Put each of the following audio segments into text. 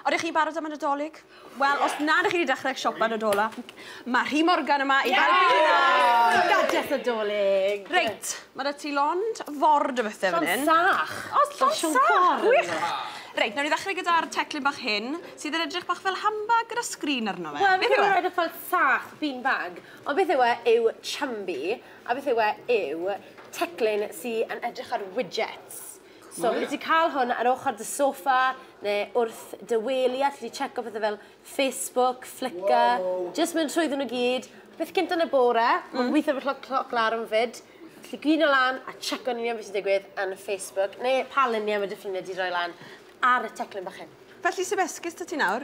Ond ych chi'n barod am y Nadolig? Wel, os na ydych chi wedi dechrau siopa Nadola, mae Rhi Morgan yma i helpu chi nawr! Gadell Nadolig! Reit, mae da ti lond ford o bethau fan hyn. Llond sach! O, llond sach! Gwych! Reit, nawr i ddechrau gyda'r teclyn bach hyn, sydd yn edrych bach fel handbag gyda sgrin arno fe. Beth yw e? Wel, fi'n credu rhaid y ffordd sach, bean bag. Ond beth yw e yw chumby, a beth yw e yw teclyn sydd yn edrych ar widgets. So fi wedi cael hwn ar ochr dy soffa neu wrth dy wely a ti wedi checo pethau fel Facebook, Flickr, jyst mynd trwyddyn nhw gyd. Beth gynt yn y bore, mae'n gweithio efo cloc larwm 'fyd, gallu gwyno lan a checko'n union beth sy'n digwydd yn Facebook neu pa luniau mae dy ffrindiau wedi rhoi lan ar y teclyn bach hyn. Felly sef esgus 'da ti nawr.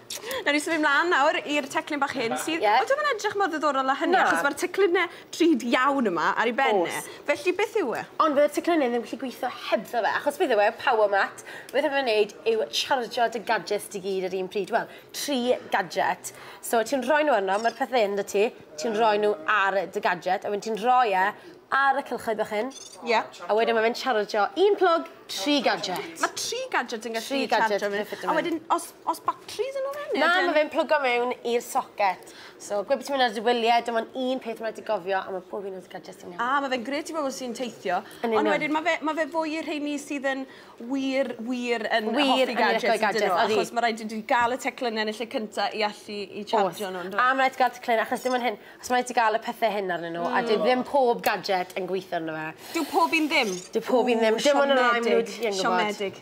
Newn ni symud mlan nawr i'r teclyn bach hyn sydd... Ie. ...odi o ddim yn edrych mor ddiddorol â hynny... Na. ...achos ma'r teclynne drud iawn yma ar 'i ben e. O's. Felly beth yw e? Ond fydde'r teclynne ddim gallu gwitho hebddo fe achos beth yw e, power mat, beth ma' fe'n neud yw charjio dy gadjets di gyd ar un pryd, wel, tri gadjet. So ti'n rhoi n'w arno, ma'r pethe 'yn 'da ti, ti'n rhoi n'w ar dy gadjet a wedyn ti'n rhoi e ar y cylchoedd bach hyn... Ie. ...a wedyn ma' fe'n charjio un plwg, tri gadjet. Ma' tri gadjet yn gallu... Tri gadjet yn gallu ffito mewn. ...a wedyn os Oes batris yno fe? Na, mae fe'n plygo mewn i'r socket. So, gwe bod ti'n mynd ar dy wyliau, dim ond un peth mae'n rhaid i gofio, a mae pob un o'r gadgets yn iawn. A, mae fe'n gret i bobl sy'n teithio. Yn union. Ond wedyn, mae fe, mae fe fwy i'r rheini sydd yn wir, wir yn hoffi gadgets. Wir yn licio ei gadgets, odi. Achos mae rhaid i ti gael y teclynne yn y lle cynta i allu i chargio nhw, yndoes? Oes. A mae rhaid ti gael teclynne, achos dim ond hyn, achos mae rhaid ti gael y pethe hyn arnyn nhw, a dyw ddim pob gadget yn gweithio arno fe. Dyw pob un ddim? Dyw pob un ddim. Dim ond y rai maen nhw wedi gwbod. Siomedig.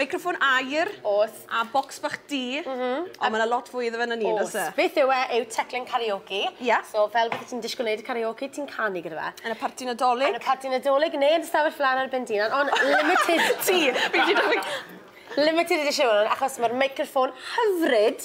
Meicroffon aer. Oes. A bocs bach du. M-hm. Ond ma' 'na lot fwy iddo fe na ni oes? Oes. Beth yw e yw teclyn karaoke. Ie. So fel byddet ti'n dishgwl neud karaoke ti'n canu gyda fe. Yn y parti Nadolig? Yn y parti Nadolig ne' yn dy stafell flan ar ben dy unan on' limited... Ti! Fi 'di diffyg... Limited edition yw 'wn achos ma'r meicroffon hyfryd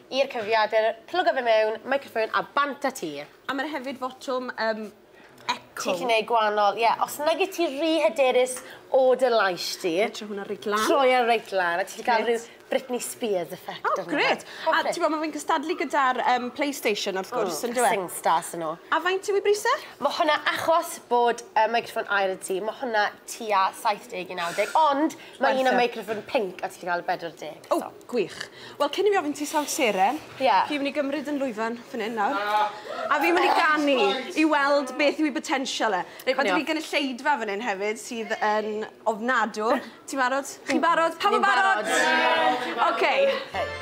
I'r cyfrifiadur, plygo fe mewn, microphone a bant a ti. A ma' 'na hefyd fotwm yym eco. Ti 'llu neud gwanol, ie, os nag yt ti ry hyderus o dy lais di... Troi hwnna reit lan. ...troi e reit lan a ti 'llu ca'l ryw Britney Spears effect arno fe. O grêt! A t'bo' ma' fe'n cystadlu gyda'r yym Playstation wrth gwrs on'd yw e? Hmm, SingStar sa n'w. A faint yw 'i bris e? Ma' hwnna, achos bod yy microffon aer 'da ti, ma' hwnna tua saith deg i naw deg, ond Mae un am meicroffon pinc a ti 'llu ca'l y bedwar deg eto. O! Gwych. Wel cyn i fi ofyn ti sawl seren... Ie. ...fi myn' i gymryd 'yn lwyfan fyn 'yn nawr. Na! A fi myn' i ganu i weld beth yw 'i botensial e. Reit ma' 'da fi gynulleidfa fyn 'yn hefyd sydd yn ofnadw. Ti'n barod? Chi'n barod? Pawb yn barod? Ni'n barod. Ie! Oce. Reit.